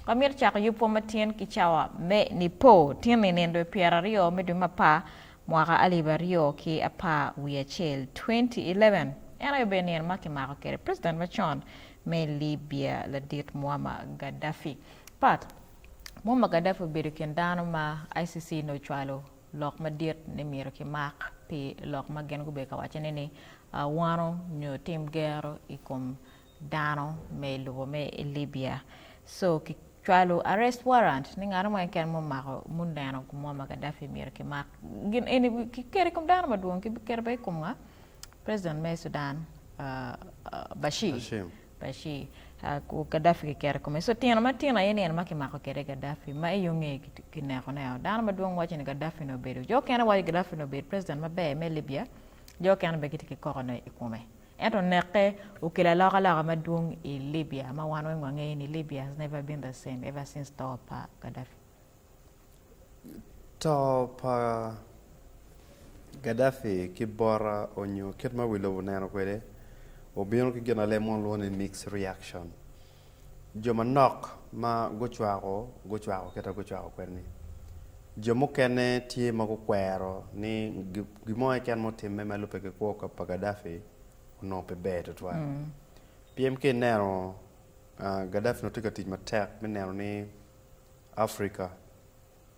Wamito cako yubwa ma tyen ki cawa me Nipo tin i nindo i pyera aryo me dwe me apar mwaka alip aryo ki apar wiye acel, 2011. En aye obedo nino ma kimako kwede president macon me Libya ladit Muammar Gaddafi. Part. Muammar Gaddafi obedo i kin dano ma ICC nongo ocwalo lok madit ni myero kimak pi lok ma gin gubedo ka wacone ni wano nyo tim gero i kom dano me i lobo me i Libya so ki cwalo arrest warrant ni ngat mo keken ma omako ma oneno gin mo ma Gaddafi myero ki mak gin eni ki keto i kom dano ma dwong ki bi keto bene i kom nga president me Sudan Bashir Bashir Gaddafi ki keto i kome so tino ma tino aye ni en ma ki mako kede Gaddafi ma i onge ki neko ne o dano ma dwong waco ni Gaddafi ni obedo jo mukene waco ni Gaddafi ni obedo president ma ber me Libya jo mukene bene gitye ki koko ne i kome. Ento neke okelo alokaloka madwong i Libya ma wan weng wangeyo ni Libya has never been the same ever since to pa Gaddafi. To pa Gaddafi ki bota onyo kit ma wi lobo oneno kwede obino ki gin ma leb mo lwongo ni mixed reaction. Jo manok ma gucwako gucwako kit ma gucwako kwede-ni. Jo mukene tye ma gukwero ni gin mo keken ma otimme ma lubbe ki kwo pa Gaddafi onongo pe ber tutwal. Pien ka ineno Gaddafi onongo tye ka tic matek me neno ni Afrika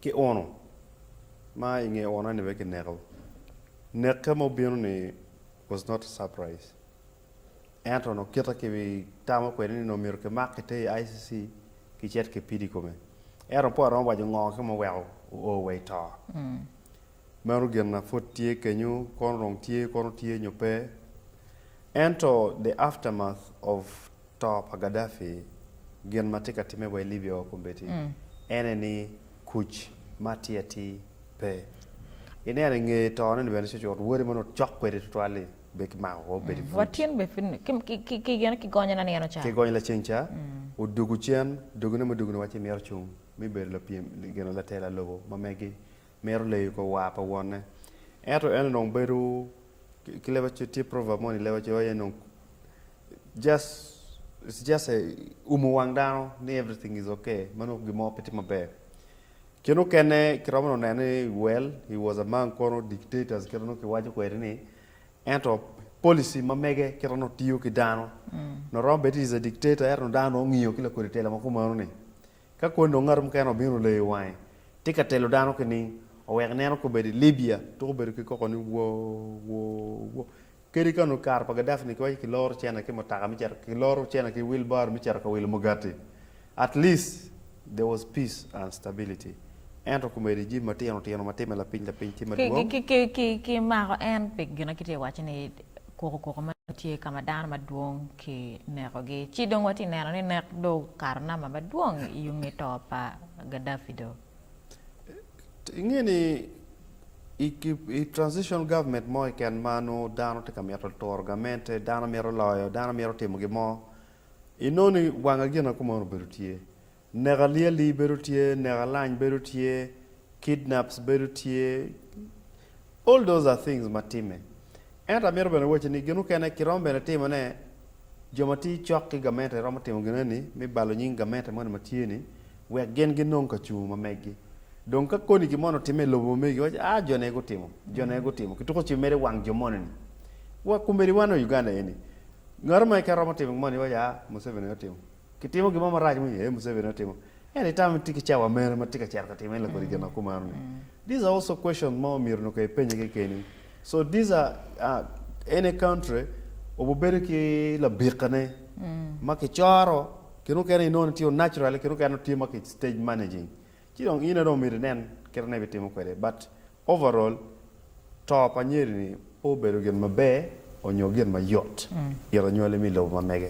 ki uno ma i nge uno ni bene kineko. Neke ma obino ni was not a surprise. Ento no kita ki tamo kwede ni no mito ki mak ki te i ICC ki cet ki pidi kome. Ento po aromo wajo ngo ki mo weko o o wa i to. Mm. Meno gin na put tye kenyu kono rong tye kono tye nyo pe. Ento the aftermath of To pa Gaddafi, gin ma tye ka timme wa i Libya wa kombeddi en aye ni kuc ma atir atir pe. Ineno i nge tone ni bene cucut wode ma nongo cok kwede tutwal-li bene kimako woko obedo i buc. Watyen bene pud kigonye lanino ca. Kigonye lacen ca, odugu cen, dogine mudugune waci mito cung me bedo lapyem, latela lobo ma megi. mito leyo i kor war pa wonne. Ento en onongo bedo ki leb acel, tye proverb moni i leb acel waco ni dong just it's just a umo wang dano ni everything is okay ma nongo gin mo pe tye maber. Kit mukene kiromo dong nene ni well he was among kono dictators kit ma nongo kiwaco kwede ni ento policy ma mege kit ma nongo tiyo ki dano nongo romo bed is a dictator ento dano nongo ngiyo ki lakodi tela ma kumeno ni Ka kwoni dong ngat mukene obino leyo wange, tye ka telo dano ki ni owek ineno ka obedo i Libya, tuku obedo ki koko ni wo, wo, wo. Kadi ka onongo i kare pa Gaddafi ni kiwaco kiloro cene ki mutaka me cito, kiloro cene ki wheelbarrow me cito ka wilo mugati, at least there was peace and stability. Ento komedi jami matino tino ma timme lapiny lapiny ki madwong. Ki, ki, ki, ki, ki mako en pi gin ma kitye ka waco-ni. kukukuku ma tye ka ma dano madwong ki nekogi ci dong watye ka neno ni nek do okato namba madwong i yung nge to pa Gaddafi do. Inge ni i transitional government mo keken ma nongo dano tye ka mito turo gamente, dano mito loyo, dano mito timo gin mo, inongo ni wanga gin akuma nongo obedo tye. Nek alyeli bedo tye, nek alany bedo tye, kidnaps bedo tye, all those are things ma timme. Ento amito bene wacci ni gin mukene kiromo bene timo ne, jo ma tiyo cok ki gamente romo timo gin eni me balo nying gamente moni ma tye ni wek gin gi nong kacungu ma meggi. Dong ka koni gin moni otimme i lobo ma megi giwacci aa jo ne gutimo, jo ne gutimo, kituko ci medo i wang jo moni ni wa, kombeddi wan wa Uganda eni, ngatu ma keken romo timo gin moni iwacci aa Museveni aye otimo. Kitimo gin mo marac mo aye Museveni otimo ento itamo ni tye ki cawa mene ma tye ka cito ka time la kodi gin akumano ni these are also questions ma omyero onongo ka ipenye kekeni so these are uh, any country obu bedo ki labika ne ma kicoro kine mukene inongo ni tye o naturally kine mukene tye ma ki stage managing ci dong ine dong omyero inen kit ma ibitimo kwede but overall to pa nyeri ni pe obedo gin maber onyo gin mayot ito nywali me lobo ma mege.